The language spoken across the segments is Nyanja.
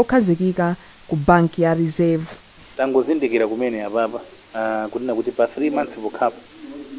kokhazikika ku banki ya Reserve. Tangozindikira kumene apapa kunena kuti pa 3 months pokhapo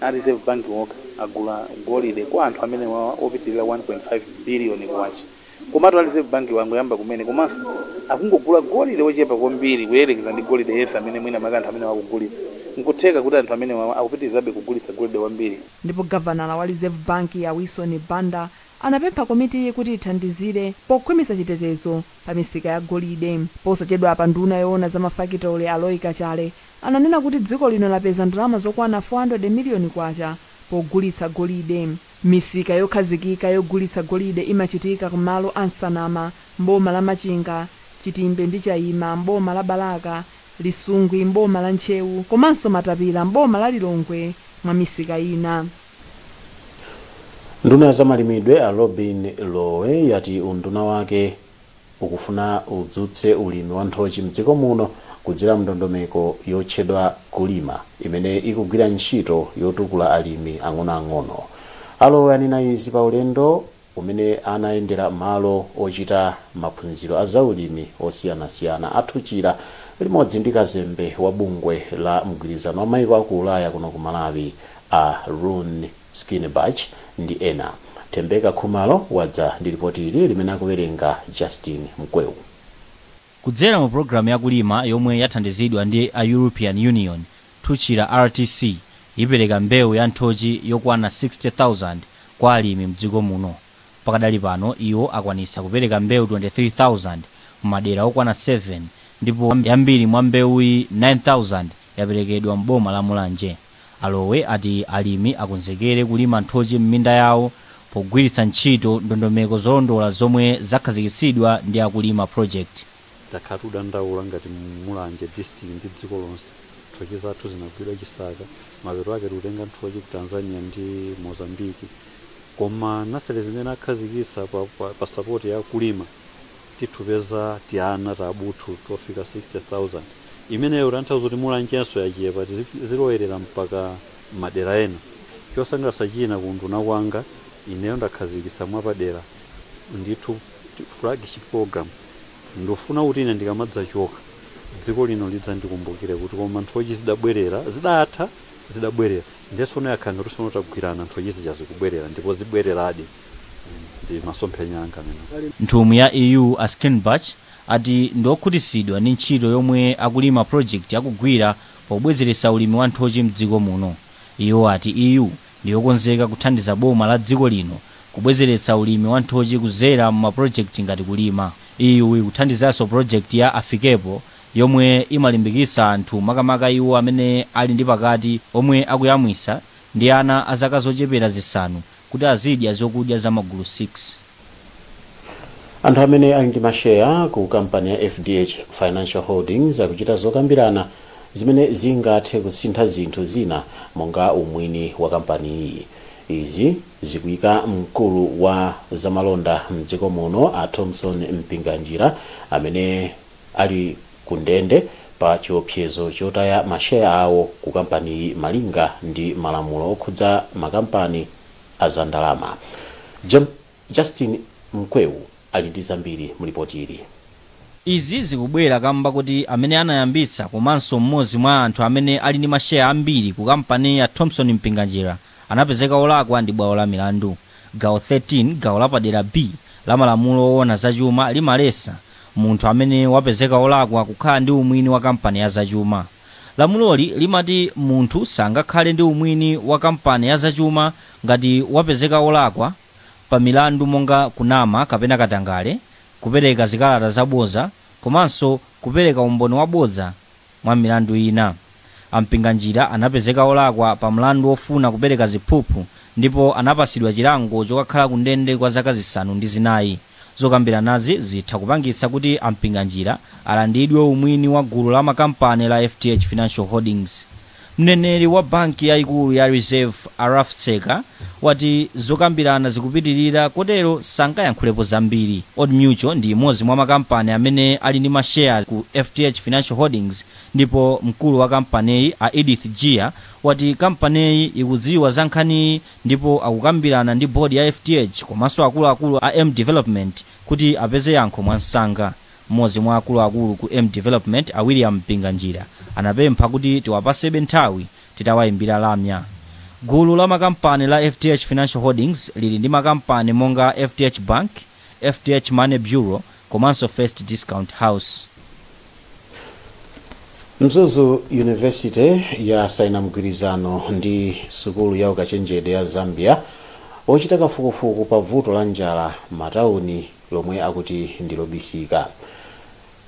a Reserve Bank wokha agula golide kwa anthu amenewawa opitilira 1.5 billion kwacha. Komatu a Reserve Bank-wa angoyamba kumene komanso akungogula golide ochepa kwambiri kuyerekeza ndi golide yense amene mwina mwake anthu amenewa akugulitsa. Nkutheka kuti anthu amenewawa akupitilizabe kugulitsa golide wambiri. Ndipo gavanala wa Reserve Bank a Wilson Banda anapempha komitiyi kuti ithandizire pokhwimitsa chitetezo pa misika ya golide. Posachedwapa nduna yoona za mafakitole a Roy Kachale ananena kuti dziko lino lapeza ndalama zokwana 400 miliyoni kwacha pogulitsa golide. Misika yokhazikika yogulitsa golide imachitika ku malo a Nsanama m'boma la Machinga, Chitimbe ndi Chaima m'boma la Balaka, Lisungwi m'boma la Ntcheu komanso Matapila m'boma la Lilongwe mwa misika ina. nduna ya za malimidwe a lobin lowe yati unduna wake ukufuna udzutse ulimi wa nthochi mdziko muno kudzera mndondomeko yotchedwa kulima imene ikugwira ntchito yotukula alimi ang'onoang'ono a lowe anena izi pa ulendo umene anayendera malo ochita maphunziro a zaulimi osiyanasiyana a Thuchila limodzi ndi kazembe wa bungwe la mgwirizano wa maiko a ku Ulaya kuno ku Malawi a Rune Skinnebach ndi ena. Thembeka Khumalo wadza ndi lipoti ili limene akuwerenga Justin Mkweu. Kudzera mu pulogalamu ya kulima yomwe yathandizidwa ndi a European Union, Thuchila RTC ipereka mbewu ya nthochi yokwana 60,000 kwa alimi mdziko muno. Pakadali pano iwo akwanitsa kupereka mbewu 23,000 mu madera okwana 7 ndipo yambiri mwa mbewuyi 9,000 yaperekedwa m'boma la Mulanje. A Lowe ati alimi akonzekere kulima nthochi m'minda yawo pogwiritsa ntchito ndondomeko zolondola zomwe zakhazikitsidwa ndi a Kulima Project. Takhala tikudandaula ngati Mulanje district ndi dziko lonse. Nthochi zathu zinagwidwa chisaka, mapeto ake tikutenga nthochi ku Tanzania ndi Mozambique. Koma nursery zimene akhazikitsa pa support ya Kulima titupeza tiana tabuthu tofika 60,000. Imeneyo ikutanthauza kuti Mulanjenso yachepa, tizilowerera mpaka madera ena. Chosangalatsa china ku unduna kwanga, ineyo ndakhazikitsa mwapadera ndithu flagship program. Ndikufuna kuti ine ndikamadzachoka, dziko lino lidzandikumbukire kuti koma nthochi zidabwerera, zidatha, zidabwerera. Ndiye tsono yakhala ngati tsono tagwirana, nthochi zija zikubwerera ndipo zibwereradi. ndi masomphenya anga amene Nthumwi ya EU a Schirnbach ati ndi okhutitsidwa ndi ntchito yomwe a Kulima project akugwira pobwezeretsa ulimi wa nthochi mdziko muno. Iwo ati EU ndiyokonzeka kuthandiza boma la dziko lino kubwezeretsa ulimi wa nthochi kudzera mu ma project ngati Kulima. EU ikuthandizanso project ya Afikepo yomwe imalimbikitsa anthu makamaka iwo amene ali ndi pakati omwe akuyamwisa ndi ana a zaka zochepera zisanu kuti azidya zokudya za magulu 6. Anthu amene ali ndi masheya ku kampani ya FDH Financial Holdings akuchita zokambirana zimene zingathe kusintha zinthu zina monga umwini wa kampaniyi. Izi zikuika mkulu wa zamalonda mdziko muno a Thomson Mpinganjira amene ali ku ndende pa chiopsezo chotaya masheya awo ku kampaniyi malinga ndi malamulo okhudza makampani a za ndalama. Justin Mkweu ali ndi zambiri mu lipoti ili. Izi zikubwera kamba koti amene anayambitsa komanso m'modzi mwa anthu amene ali ndi masheya ambiri ku kampaniyi a Thomson Mpinganjira, anapezeka olakwa ndi bwalo la milandu. Gawo 13 gawo lapadera B la malamulo owona za chuma limalesa munthu amene wapezeka olakwa kukhala ndi umwini wa kampani ya zachuma. Lamuloli limati munthu sangakhale ndi umwini wa kampani ya zachuma ngati wapezeka olakwa pa milandu monga kunama kapena katangale, kupereka zikalata zabodza komanso kupereka umboni wabodza. mwa milandu ina. A Mpinganjira anapezeka olakwa pa mlandu wofuna kupereka ziphuphu ndipo anapatsidwa chilango chokakhala ku ndende kwa zaka zisanu ndi zinayi. Zokambiranazi zitha kupangitsa kuti a Mpinganjira alandidwe umwini wa gulu la makampani la FDH Financial Holdings. Mneneri wa banki yaikulu ya Reserve a Ralph Tseka wati zokambirana zikupitilira kotero sangayankhulepo zambiri. Old Mutual ndi imodzi mwa makampani amene ali ndi ma shares ku FDH Financial Holdings ndipo mkulu wa kampaniyi a Edith Jiya wati kampaniyi ikudziwa za nkhaniyi ndipo akukambirana ndi board ya FDH komanso akuluakulu a M Development kuti apeze yankho mwamsanga. M'modzi mwa akuluakulu ku M Development a William Mpinganjira anapempha kuti tiwapasebe nthawi titawayimbira lamya. Gulu la makampani la FDH Financial Holdings lili ndi makampani monga FDH Bank, FDH Money Bureau komanso First Discount House. Mzuzu University yasaina mgwirizano ndi sukulu ya ukachenjede ya Zambia wochita kafukufuku pa vuto la njala m'matauni lomwe akuti ndi lobisika.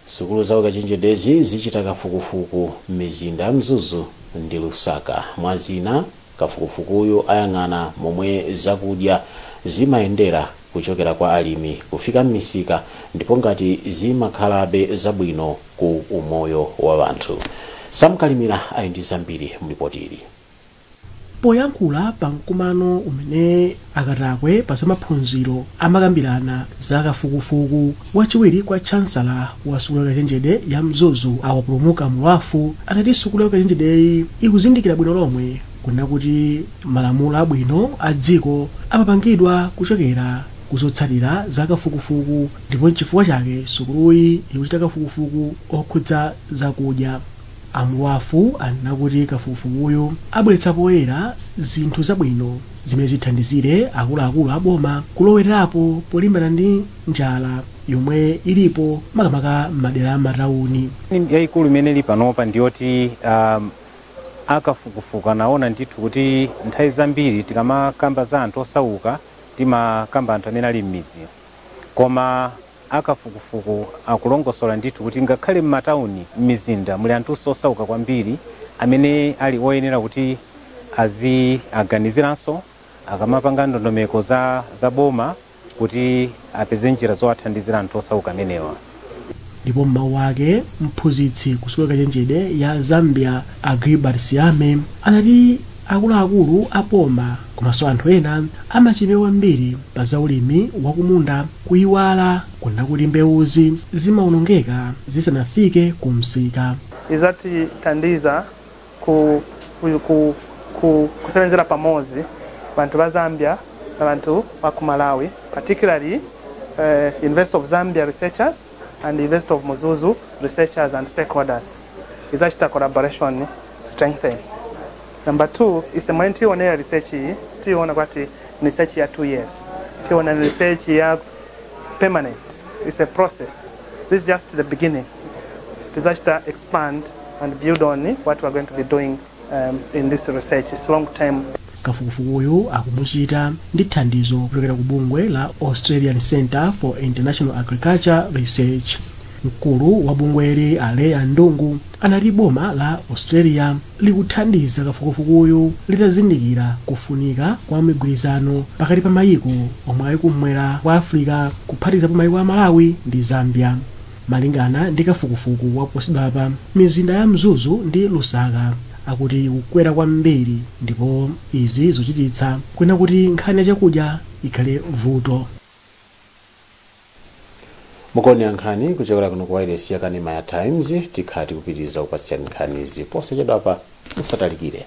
Sukulu za ukachenjedezi zichita kafukufuku m'mizinda ya Mzuzu ndi Lusaka. Mwa zina, kafukufukuyu ayang'ana momwe zakudya zimayendera kuchokera kwa alimi kufika m'misika ndipo ngati zimakhalabe zabwino ku umoyo wa anthu. Sam Kalimira ali ndi zambiri m'lipotili. Poyankhula pa mkumano umene akatakwe pa zamaphunziro amakambirana za kafukufuku, wachiwiri kwa Chancellor wa sukulu ya ukachenjede ya Mzuzu a Wapulumuka Mulwafu anati sukulu ya ukachenjedeyi ikuzindikira bwino lomwe kunena kuti malamulo abwino a dziko amapangidwa kuchokera ku zotsatira za kafukufuku ndipo nchifukwa chake sukuluyi ikuchita kafukufuku okhudza zakudya A Mulwafu anena kuti kafukufukuyu abweretsa poyera zinthu zabwino zimene zithandizire akuluakulu a boma kulowerapo polimbana ndi njala yomwe ilipo makamaka m'madera a m'matauni. yaikulu imene ili panopa ndi yoti a kafukufuku anaona ndithu kuti nthawi zambiri tikamakamba za anthu osauka timakamba anthu amene ali m'midzi koma Akafukufuku akulongosola ndithu kuti ngakhale m'matauni, m'mizinda muli anthunso osauka kwambiri amene ali oyenera kuti aziaganiziranso akamapanga ndondomeko za boma kuti apeze njira zowathandizira anthu osauka amenewa. Ndipo m'mawu ake, mphunzitsi ku sukulu ya ukachenjede ya Zambia a Gilbert Siame anati, Akuluakulu a boma komanso anthu ena amachidwi kwambiri pa za ulimi wa kumunda kuyiwala kunena kuti mbewuzi zimawonongeka zisanafike ku msika. Izatithandiza kusebenzela pamozi banthu ba Zambia na banthu ba ku Malawi, particularly University of Zambia researchers and University of Mzuzu researchers and stakeholders. Izachita collaboration. strengthen number two ise mwene tiwonera research iyi sitiyiona kwati ni research ya two years tiwona ni research ya permanent it's a process this is just the beginning tizachita expand and build on what we're going to be doing um, in this research it's long term Kafukufukuyu akumuchita ndi thandizo kuchokera ku bungwe la Australian Centre for International Agriculture Research. Mkulu wa bungweli a Leah Ndungu anati boma la Australia likuthandiza kafukufukuyu litazindikira kufunika kwa mgwirizano pakati pa mayiko omwe ali kummwera kwa Africa kuphatikizapo mayiko a Malawi ndi Zambia. Malingana ndi kafukufuku waposachedwapa, mizinda ya Mzuzu ndi Lusaka akuti ikukwera kwambiri ndipo izi zikuchititsa kunena kuti nkhani ya chakudya ikhale vuto. Mukuonera nkhani kuchokera kuno ku wailesi ya kanema ya Times, tikhala tikupitiliza kukupatsirani nkhanizi posachedwapa musatalikire.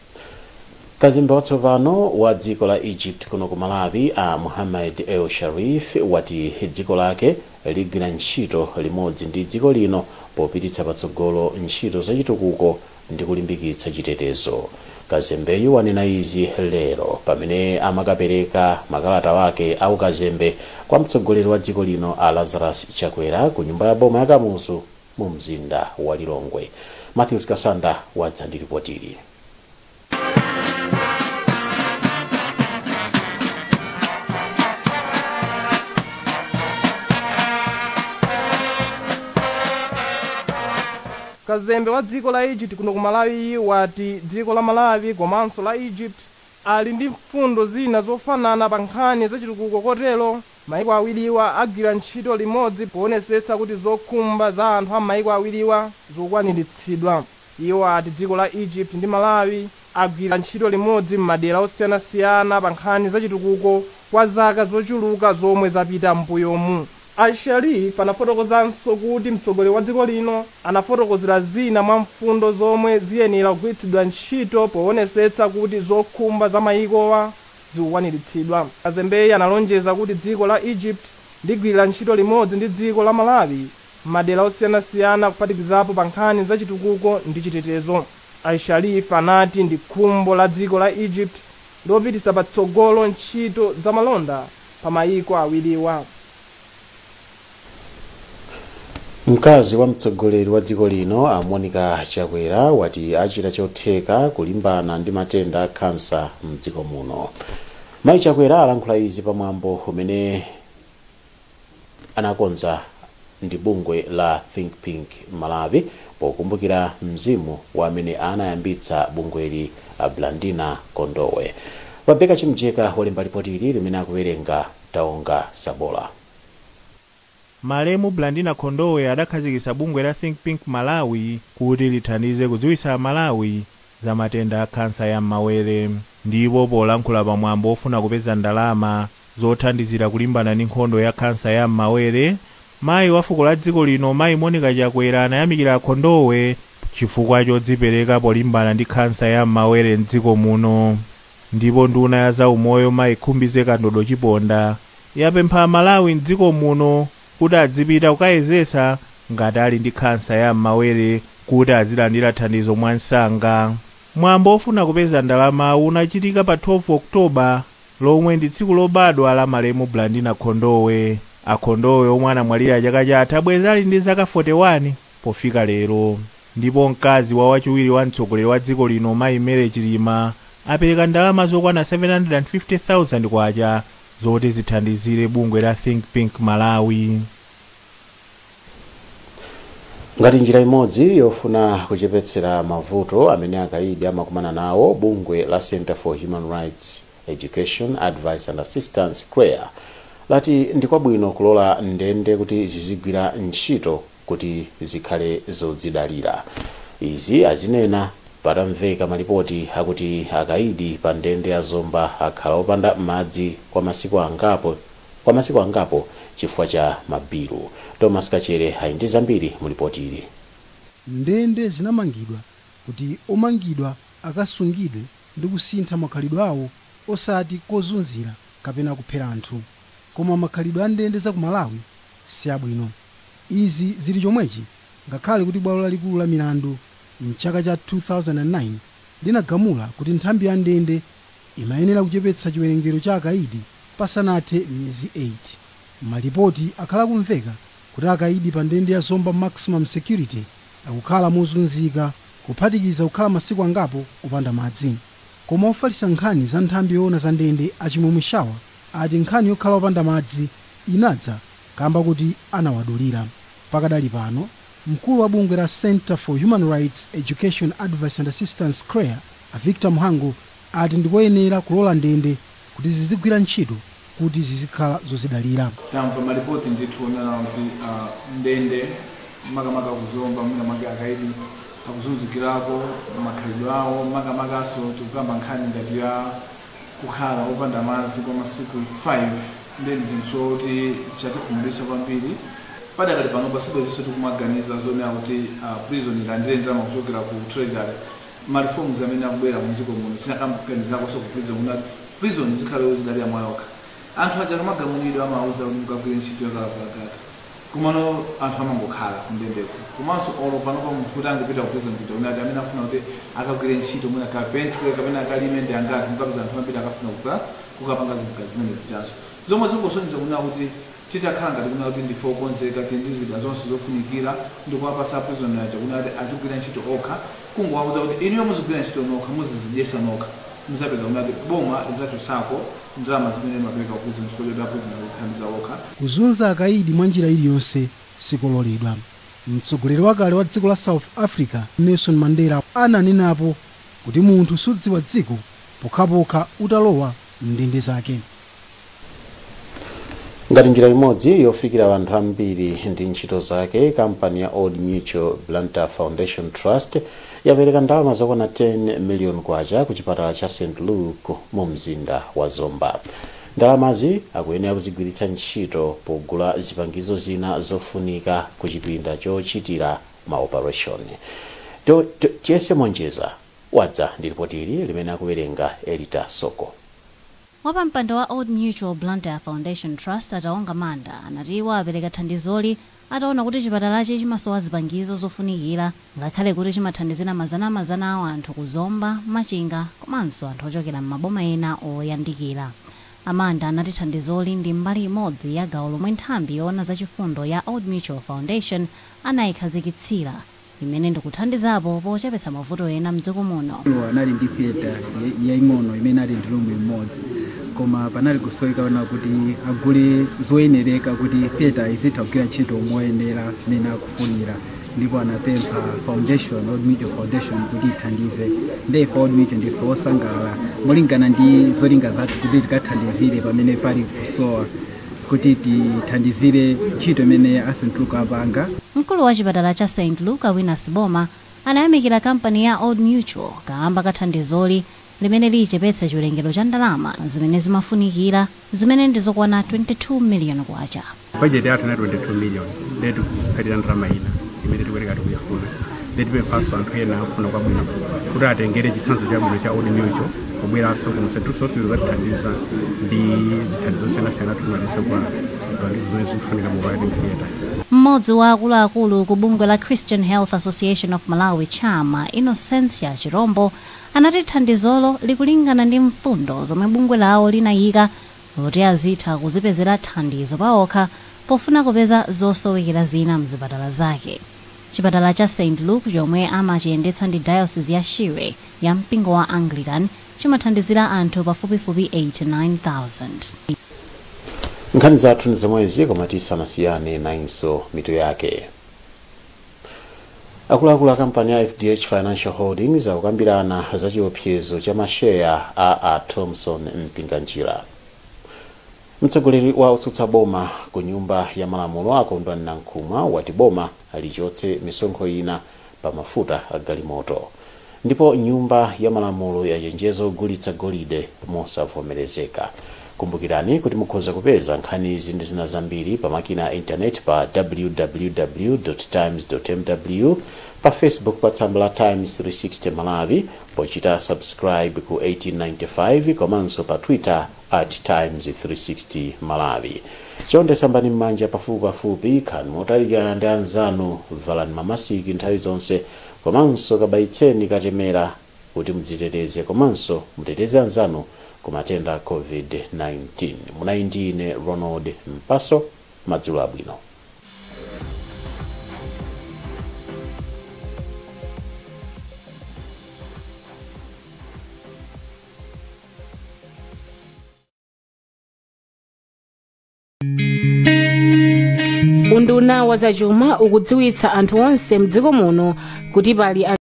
Kazembe watsopano wa dziko la Egypt kuno ku Malawi a Muhammad El Sharif wati dziko lake ligwira ntchito limodzi ndi dziko lino popititsa patsogolo ntchito zachitukuko ndi kulimbikitsa chitetezo. Kazembeyu wanena izi lero pamene amakapereka makalata ake a ukazembe kwa mtsogoleri wa dziko lino a Lazarus Chakwera ku nyumba ya boma ya Kamuzu. mu mzinda wa Lilongwe. Mathews Kasanda wadza ndi lipotili. Kazembe wa dziko la Egypt kuno ku Malawiyu wati dziko la Malawi komanso la Egypt ali ndi mfundo zina zofanana pa nkhani zachitukuko kotero Maiko awiriwa agwira ntchito limodzi powonetsetsa kuti zokhumba za anthu a mmaiko awiriwa zikukwaniritsidwa. Iwo ati dziko la Egypt ndi Malawi agwira ntchito limodzi mmadera osiyanasiyana pa nkhani za chitukuko kwa zaka zochuluka zomwe zapita mmbuyomu. A El Sharif anafotokozanso kuti mtsogoleri wa dziko lino anafotokozera zina mwa mfundo zomwe ziyenera kugwiritsidwa ntchito powonetsetsa kuti zokhumba za mayikowa zikukwaniritsidwa. Kazembeyu analonjeza kuti dziko la Egypt ligwirira ntchito limodzi ndi dziko la Malawi m'madera osiyanasiyana kuphatikizapo pa nkhani za chitukuko ndi chitetezo. A El Sharif anati ndi khumbo la dziko la Egypt lopititsa patsogolo ntchito za malonda pa mayiko awiriwa. Mkazi wa mtsogoleri wa dziko lino a Monica Chakwera wati achita chotheka kulimbana ndi matenda a khansa mdziko muno. Mayi Chakwera alankhula izi pa mwambo umene anakonza ndi bungwe la Think Pink Malawi pokumbukira mzimu wa amene anayambitsa bungweli a Blandina Khondowe. Rebecca Chimjeka walemba lipoti ili limene akuwerenga Taonga Sabola. Malemu Blandina Khondowe adakhazikitsa bungwe la Think Pink Malawi kuti lithandize kudziwitsa Amalawi za matenda a khansa ya m'mawere ndipo polankhula pa mwambo wofuna kupeza ndalama zothandizira kulimbana ndi nkhondo ya khansa ya m'mawere, mayi wa fuko la dziko lino mayi Monica Chakwera anayamikira a Khondowe chifukwa chodzipereka polimbana ndi khansa ya m'mawere m'dziko muno. Ndipo nduna ya za umoyo mayi Khumbize Kandodo Chiponda yapempha aMalawi m'dziko muno kuti adzipita kukayezetsa ngati ali ndi khansa ya m'mawere kuti azilandira thandizo mwamsanga. Mwambo ofuna kupeza ndalamawu unachitika pa 12 October lomwe ndi tsiku lobadwa la malemu Blandina Khondowe. A Khondowe omwe anamwalira chaka chatha bwezi ali ndi zaka 41 pofika lero. Ndipo mkazi wa wachiwiri wa mtsogoleri wa dziko lino mayi Mary Chilima apereka ndalama zokwana K750,000 zoti zithandizire bungwe la Think Pink Malawi. Ngati njira imodzi yofuna kuchepetsera mavuto amene akaidi amakumana nawo, bungwe la Centre for Human Rights Education, Advice and Assistance, Chreaa, lati ndi kwabwino kulola ndende kuti zizigwira ntchito kuti zikhale zodzidalira. Izi azinena patamveka malipoti akuti akaidi pa ndende ya Zomba akhala opanda madzi kwa masiku angapo chifukwa cha mabilu. Thomas Kachere ali ndi zambiri mu lipotili. Ndende zinamangidwa kuti omangidwa akasungidwe ndi kusintha makhalidwe awo osati kozunzira kapena kuphera anthu. Koma makhalidwe a ndende za ku Malawi siabwino. Izi zili chomwechi ngakhale kuti bwalo lalikulu la milandu m'chaka cha 2009 linagamula kuti nthambi ya ndende imayenera kuchepetsa chiwerengero cha akaidi pasanathe miyezi 8. Malipoti akhala akumveka kuti akaidi pa ndende ya Zomba Maximum Security akukhala mozunzika kuphatikiza kukhala masiku angapo opanda madzi. Koma ofalitsa nkhani za nthambi yoona za ndende a Chimwemwe Shaba ati nkhani yokhala opanda madzi inadza kamba koti anawadulira. Pakadali pano, mkulu wa bungwe la Centre for Human Rights, Education, Advice and Assistance, Chreaa, a Victor Mhango ati ndikoyenera kulola ndende kuti zizigwira ntchito kuti zizikhala zodzidalira. Tamva malipoti ndithu onena kuti ndende makamaka ku Zomba mwina mwake akaidi akuzunzikirako makhalidwe awo makamakaso tikukamba nkhani ngati ya. kukhala opanda madzi kwa masiku 5 ndiye ndi chinthu choti chatikhumudwitsa kwambiri. Padakali panopa sibwezinso tikumaganiza zonena kuti a prison ilandire ndalama kuchokera ku treasury. Ma reforms amene akubwera mu dziko muno tinakaganizakonso ku prison kunena kuti prison izikhala yozidalira mwayokha. Anthu aja akamagamulidwa amawauza kuti mukagwire ntchito ya kalavulagaga. Komano anthu amangokhala ku ndendeku. Komanso olo panopa munthu kuti angapite ku prison kuja kuti amene akufuna kuti akagwire ntchito mwina carpentry kapena akalime ndi angati. Mukapeza anthu ambiri akafuna kukapanga zinthu zimene zijanso. Zomwe zingosonyeza kunena kuti titakhala ngati kunena kuti ndife okonzeka, tili ndi zida zonse zofunikira ndi kuwapatsa a prison aja kunena kuti azigwira ntchito okha, kungowauza kuti inuyo muzigwira ntchito nokha, muzidzidyetsa nokha, mudzapeza kunena kuti boma lidzachotsako. Ndalama zimene amapereka ku prison chifukwa choti a prison azithandiza okha. Kuzunza akaidi mwa njira iliyonse sikololedwa. Mtsogoleri wakale wa dziko la South Africa Nelson Mandela ananenapo kuti munthu sudziwa dziko pokhapokha utalowa m'ndende zake. Ngati njira imodzi yofikira anthu ambiri ndi ntchito zake, kampani ya Old Mutual Blantyre Foundation Trust, yapereka ndalama zokwana 10 million kwacha ku chipatala cha St Luke mu mzinda wa Zomba. Ndalamazi akuyenera kuzigwiritsa ntchito pogula zipangizo zina zofunika ku chipinda chochitira ma opareshoni. Tiyese Monjeza wadza ndi lipoti ili limene akuwerenga Elita Soko. Wapampando wa Old Mutual Blantyre Foundation Trust a Taonga Manda anati iwo apereka thandizoli ataona kuti chipatalachi chimasowa zipangizo zofunikira ngakhale kuti chimathandizira mazanamazana a wanthu ku Zomba, Machinga komanso anthu ochokera m'maboma ena oyandikira. A Manda anati thandizoli ndi mbali imodzi ya gawo lomwe nthambi yoona zachifundo ya Old Mutual Foundation anaikhazikitsira. imene ndikuthandizapo pochepetsa mavuto ena mdziko muno. Anali ndi theater yaing'ono imene inali ndi room imodzi koma panali kusowekera kuti agule zoyenereka kuti theater izitha kugwira ntchito moyenera mmene akufunira ndipo anapempha foundation, Old Mutual Foundation kuti ithandize nde ife Old Mutual ndife osangalala molingana ndi zolinga zathu kuti tikathandizire pamene pali kusowa. kuti tithandizire ntchito imene a St Luke apanga. Mkulu wa chipatala cha St Luke a Winas Boma anayamikira kampani ya Old Mutual kaamba ka thandizoli limene lichepetse chiwerengero cha ndalama zimene zimafunikira zimene ndi zokwana 22 million kwacha. Budget yathu inali 22 million ndiye tikutsalira ndalama ina imene tikuyenera tikuchifuna. tipemphenso anthu ena akufuna kwabwino kuti atengere chitsanzo chabwino cha Old Mutual kubweranso kuno St Luke's kudzatithandiza ndi zithandizo zosiyanasiyana tikumalizitsa kwa zipangizo zomwe zikufunika mu operating theatre Mmodzi wa akuluakulu ku bungwe la Christian Health Association of Malawi CHAM a, Innocentia Chirombo, anati thandizolo likulingana ndi mfundo zomwe bungwe lawo linayika kuti azitha kuzipezera thandizo paokha pofuna kupeza zosowekera zina m'zipatala zake. Chipatala cha St Luke chomwe amachiyendetsa ndi Diocese ya Shire ya mpingo wa Anglican chimathandizira anthu pafupifupi 89,000. Nkhani zathu ndi zomwezi koma tisanasiyane nayinso mitu yake. Akuluakulu a kampani ya FDH Financial Holdings akukambirana za chiopsezo cha masheya a a Thomson Mpinganjira. Mtsogoleri wa otsutsa boma ku nyumba ya malamulo a Kondwani Nankhumwa wati boma lichotse misonkho ina pa mafuta a galimoto. Ndipo nyumba ya malamulo yachenjeza ogulitsa golide mosavomerezeka. Kumbukirani kuti mukhoza kupeza nkhanizi ndi zina zambiri pa makina a intaneti pa www.times.mw, pa Facebook pa tsamba la Times 360 Malawi pochita subscribe ku 1895 komanso pa Twitter at times 360 malawi chonde sambani mmanja pafupipafupi khalani motalikirana ndi anzanu valani mamasiki nthawi zonse komanso kabayitseni katemera kuti mudziteteze komanso muteteze anzanu ku matenda a covid-19 munali ndi ine ronald mpaso madzulo abwino unduna wa zachuma ukudziwitsa anthu onse mdziko muno kuti pali